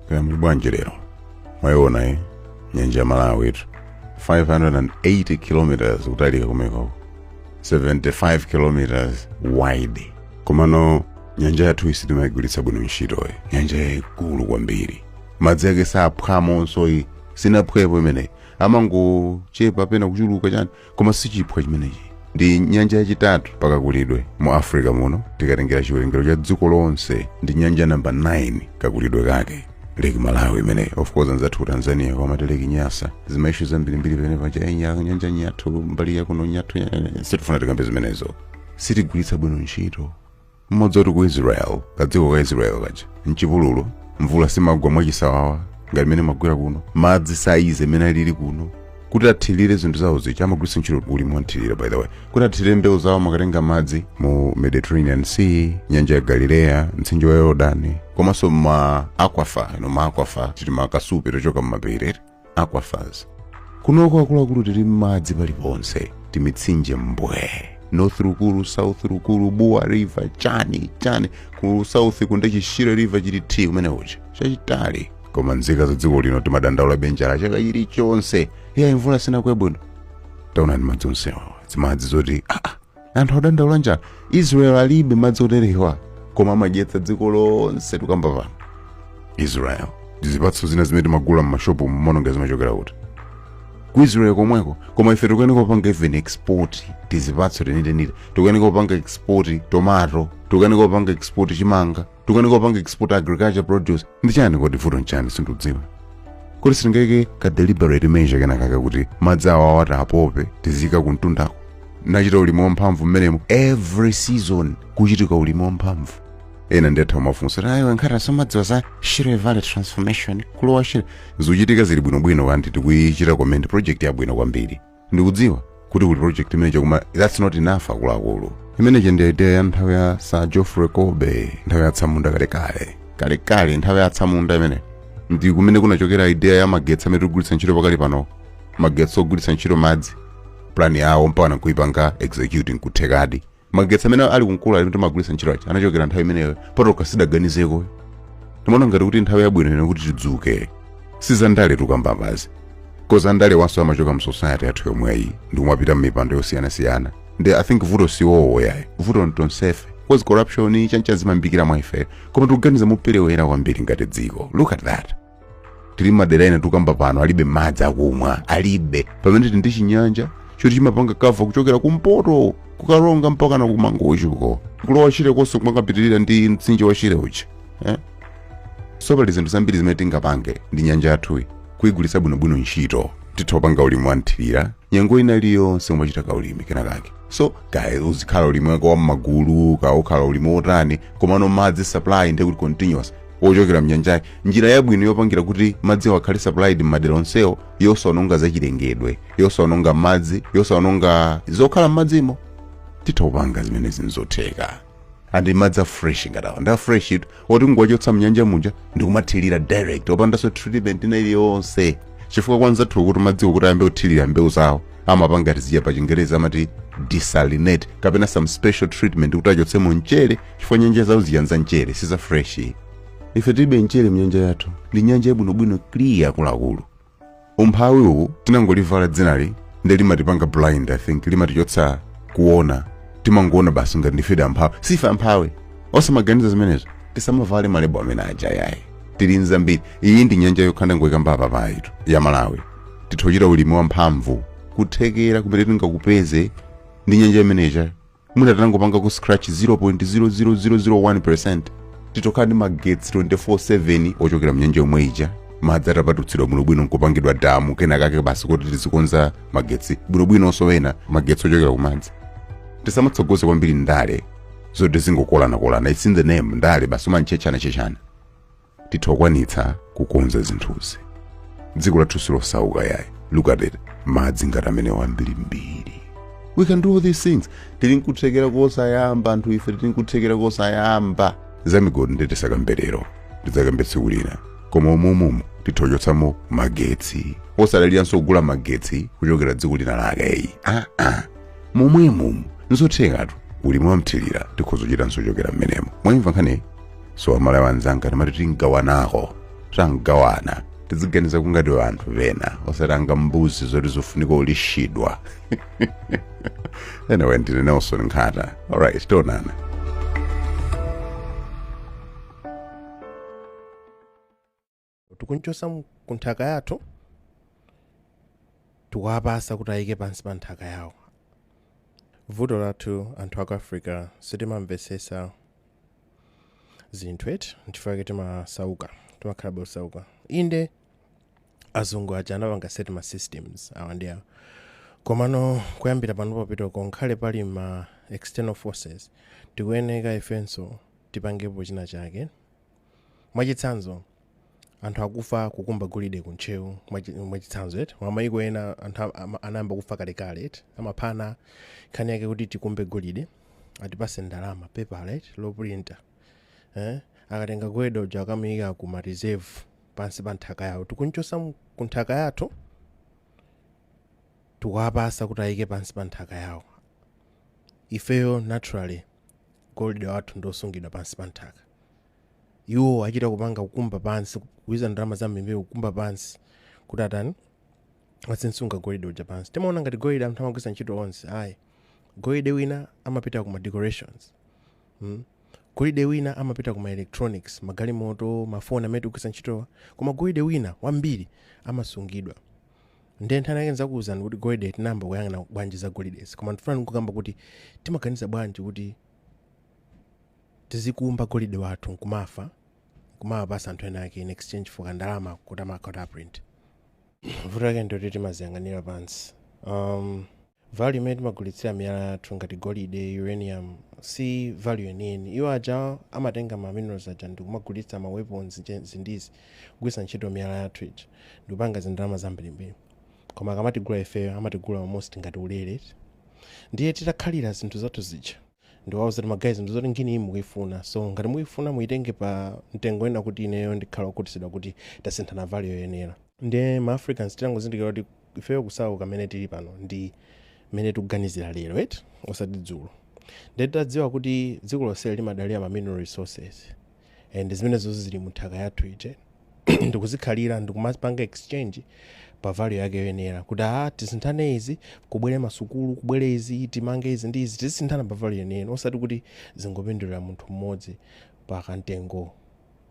kaya muli bwanji lero mwayiona eh nyanja ya malawiyitu 580 kilometers kutalika kumeneko 75 kilometers wide komano nyanja yathuyi sitimayigwiritsa bwino ntchitoyi nyanja yayikulu kwambiri madzi ake saphwamonso iyi sinaphwepo imeneyi amangochepa pena kuchuluka chani koma sichiphwa chimenechi ndi nyanja yachitatu pakakulidwe mu africa muno tikatengera chiwerengero cha dziko lonse ndi nyanja namba 9 kakulidwe kake lake malawi imeneyi of course anzathu ku tanzania amati lake nyasa zimaishu zambirimbiri pamene paja "Eh, nya- nyanja nyathu mbali yakuno nyathu nya-" sitifuna tikambe zimenezo sitigwiritsa bwino ntchito Mumadziwa kuti ku Israel, kadziko ka Israel kaja, mchipululu, mvula simagwa mwachisawawa ngati mmene imagwera kuno, madzi saize mmene alili kuno, kuti athirire zinthu zawo zija amagwiritsa ntchito ulimi wamthirira by the way kuti athirire mbewu zawo amakatenga madzi mu mediterranean sea nyanja ya galileya mtsinje wa yordani komanso ma aquifer you know ma aquifer ndi timakasupe tochoka mumapiri aquifers kunoko akuluakulu tili m'madzi paliponse timitsinje mbwe north rukulu south rukulu bua river chani chani ku south uku nde chishire river chili thi kumene kuja chachitali koma nzika za dziko lino timadandaulabe njala chaka chilichonse iyayi mvula sinagwe bwino taonani madzi onsewa zimadzi zoti aa anthu akudandaula njala israel alibe madzi oterewa koma amadyetsa dziko lonse tukamba pano israel ndi zipatso zina zimene timagula m'mashopu mumaona ngati zimachokera kuti ku israel komweko koma ife tikukanika kupanga even export tizipatso teniteniti tikukanika kupanga export tomato tikukanika kupanga export chimanga tikukanika kupanga export agriculture produce ndi chani kodi vuto nchani sindikudziwa kodi sitingaike ka deliberate measure kenakake kuti madzi awawa tiwapope tiziika kumtundako nachita ulimi wamphamvu mmenemo every season kuzichitika ulimi wamphamvu ena nde atha kumafunsa kuti ayi awa ngati samadziwa za shire valley transformation ku lower shire zikuchitika zili bwinobwino and tikuyichita commend project yabwino kwambiri ndikudziwa kuti kuli project imeneyo koma that's not enough akuluakulu imeneyi ndi idea ya nthawi ya sir geoffrey colby nthawi ya atsamunda kalekale kalekale nthawi ya atsamunda imeneyo ndi kumene kunachokera idea ya magetsi amene tikugwiritsa ntchito pakali pano magetsi ogwiritsa ntchito madzi plan yawo mpaka nkuipanga execute nkuthekadi magetsi amene ali ku nkula amene timagwiritsa ntchito aja anachokera nthawi imeneyo patokha sitidaganizeko ndimaona ngati kuti nthawi yabwino ino kuti tidzuke sizandale tukamba apazi cause andalewonso amachoka mu society yathu yomweyi ndi kumapita mmipando yosiyanasiyana ndi i think vuto si iwowo yayi vuto ntonsefe cause corruption chani chani zimayambikira mwa ife koma tikuganiza moperewera kwambiri ngati dziko look at that tili madera ena tukamba pano alibe madzi akumwa alibe pamene tili ndi chinyanja choti chimapanga kava kuchokera kumpoto ku Karonga mpaka na ku Mangochi uko kulowa Shire konse kumakapitirira ndi mtsinje wa Shire uja eh? so pali zinthu zambiri zimene tingapange ndi nyanja yathuyi kuyigwiritsa bwinobwino ntchito titha kupanga ulimi wanthirira nyengo ina iliyonse umachita ka ulimi kenakake so kaya uzikhala ulimi wako wa mmagulu kaya ukhala ulimi wotani komano madzi supply ndi kuti continuous wochokera mnyanjayi njira yabwino yopangira kuti madzi awo akhale supplied m'madera onsewo yosaononga zachilengedwe yosaononga madzi yosaononga zokhala m'madzimo titha kupanga zimenezi nzotheka andi madzi a fresh ngati awa ndi a fresh itu oti nkuwachotsa mnyanja muja ndikumathirira direct opandanso treatment ina iliyonse chifukwa kwa anzathu kuti madziwo kuti ayambe kuthirira mbewu zawo amapanga tizija pa chingerezi amati desalinate kapena some special treatment kuti achotsemo mchere chifukwa nyanja zawo zija nza mchere si za fresh ife tilibe mchere mnyanja yathu ndi nyanja yabwinobwino clear akuluakulu umphawi uwu tinangolivala dzinali nde limatipanga blind i think limatichotsa kuona timangoona basi ngati ndifedi amphawi sife amphawi osamaganiza zimenezo tisamavale malebo amene aja yayi tili nzambiri iyi ndi nyanja yokha ndangoyikamba apa paitu ya malawi titha kuchita ulimi wamphamvu kuthekera kumene tingakupeze ndi nyanja imene ija mwina tinangopanga ku scratch 0.00001% titha kukhala ndi magetsi 24/7 ochokera mnyanja yomwe ija madzi atapatutsidwa bwinobwino nkupangidwa damu kena kake basi kuti tizikonza magetsi bwinobwinonso ena magetsi ochokera kumadzi tisamatsogoze kwambiri ndale zoti tizingokolanakolana its in the name ndale basi umantchechana-chechana titha kukwanitsa kukonza zinthuzi dziko lathu silosauka yayi look at it madzi ngati amenewo ambirimbiri we can do all these things tili nkuthekera kosayamba anthu ife tili nkuthekera kosayamba za migodi nde tisakambe lero ndidzakamba tsiku lina koma umumumu titha kuchotsamo magetsi osadaliranso kugula magetsi kuchokera dziko lina lake eyi ah, ah. momwemo nzothekatu ulimi wamthirira tikhoza kuchita nso ochokera mmenemo mwayimva nkhani so amalawi anzanga timati tingawanako tangawana tiziganizako ngati anthu pena osati ngati mbuzi zoti zofunika kulishidwa anyway ndine nelson nkhata alright tionana tikumchotsa mu- ku nthaka yathu tikuwapasa kuti ayike pansi pa nthaka yawo vuto lathu anthu aku africa sitimamvesesa zinthu eti nchifukwa chake timasauka timakhala osauka inde azungu aja anapanga set ma systems awa ndi awa komano kuyambira pano popitako nkhale pali ma external forces tikuyeneka ifenso tipangepo china chake mwachitsanzo anthu akufa kukumba golide ku ntcheu mwachi- mwachitsanzo eti mwa mayiko ena anthu am- am- anayamba kufa kalekale eti amaphana nkhani yake kuti tikumbe golide atipase ndalama pepala eti loprinta eh? akatenga golide uja akamuyika ku ma reserve pansi pa nthaka yawo tikumchotsa mu- ku nthaka yathu tikuwapasa kuti ayike pansi pa nthaka yawo ifeyo naturally golide wathu ndi osungidwa pansi pa nthaka Iwo achita kupanga kukumba pansi, kuluza ndalama zambirimbiri kukumba pansi, kuti atani? Azimsunga golide uja pansi. Timaona ngati golide anthu amagwiritsa ntchito onse, ayi. Golide wina amapita ku ma decorations. Mm? Golide wina amapita ku ma electronics, magalimoto, mafoni amene tikugwiritsa ntchitowa. Koma golide wina wambiri amasungidwa. Ndiye nkhani yake ndidzakuuzani kuti golide tinayamba kuyang'ana bwanji za golidezi. Koma ndifuna ndingokamba kuti timaganiza bwanji kuti Tizikumba golide wathu nkumafa nkumawapasa anthu ena ake in exchange for ka ndalama koti amakhala kuti aprint. Vuto lake ndiloti timaziyang'anira pansi. Umm value imene timagulitsira miyala yathu ngati golide, uranium si value yeniyeni. Iwo aja amatenga ma minerals aja ndikumagulitsa ma weapons izi ndi izi kugwiritsa ntchito miyala yathu ija ndikupanga zindalama zambirimbiri. Koma akamatigula ifeyo amatigula almost ngati ulere eti. Ndiye titakhalira zinthu zathu zija. ndi kuwauza kuti ma guys zinthu zoti ngini iyi mukuyifuna so ngati mukuyifuna muyitenge pa mtengo wina kuti ineyo ndikhala okhutisidwa kuti tasinthana value yoyenera nde ma africans titangozindikira kuti ifeyo kusauka mene tili pano ndi mene tikuganizira lero eti osati dzulo nde titadziwa kuti dziko lonseli limadalira ma mineral resources eh, and zimenezo zili mu nthaka yathu eti ndikuzikhalira ndikumapanga exchange pa value yake yoyenera kuti a tisinthane izi kubwere masukulu kubwere izi timange izi ndi izi tizisinthana pa value yeniyeni osati kuti zingopindulira munthu mmodzi pa kamtengo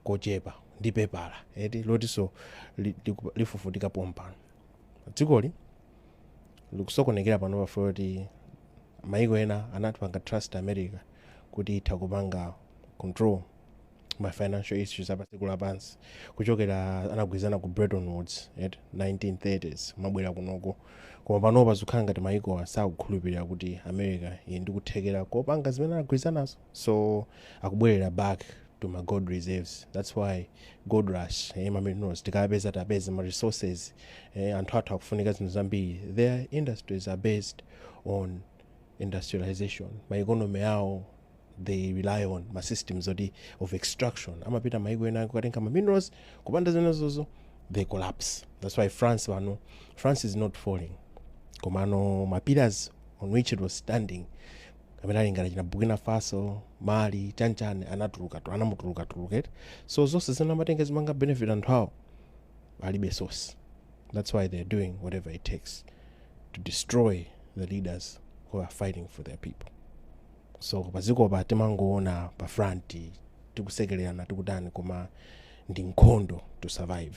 kochepa ndi pepala eti lotinso li- liku- lifufutika pompano dzikoli likusokonekera panopa chifukwa kuti maiko ena anaipanga trust america kuti itha kupanga control ma financial issues apa dziko lapansi kuchokera anagwirizana ku Bretton Woods eti 1930s kumabwera kunoko koma panopa zikukhala ngati maiko asakukhulupirira kuti america ili ndi kuthekera kopanga zimene anagwirizanazo so akubwerera back to ma gold reserves that's why gold rush eh, ma minerals tikawapeza tapeza ma resources eh, anthu athu akufunika zinthu zambiri their industries are based on industrialization ma economy awo they rely on ma systems oti of extraction amapita maiko ena kukatenga ma minerals kupanda zimenezozo they collapse that's why france pano france is not falling komano ma pillars on which it was standing amene ali ngati china burkina faso mali chanchani anatuluka tu- anamutuluka tuluka eti so zonse zimene amatenga zimaka benefit anthu awo alibe source that's why they're doing whatever it takes to destroy the leaders who are fighting for their people so padzikopa timangoona pa front tikusekererana tikutani koma ndi nkhondo to survive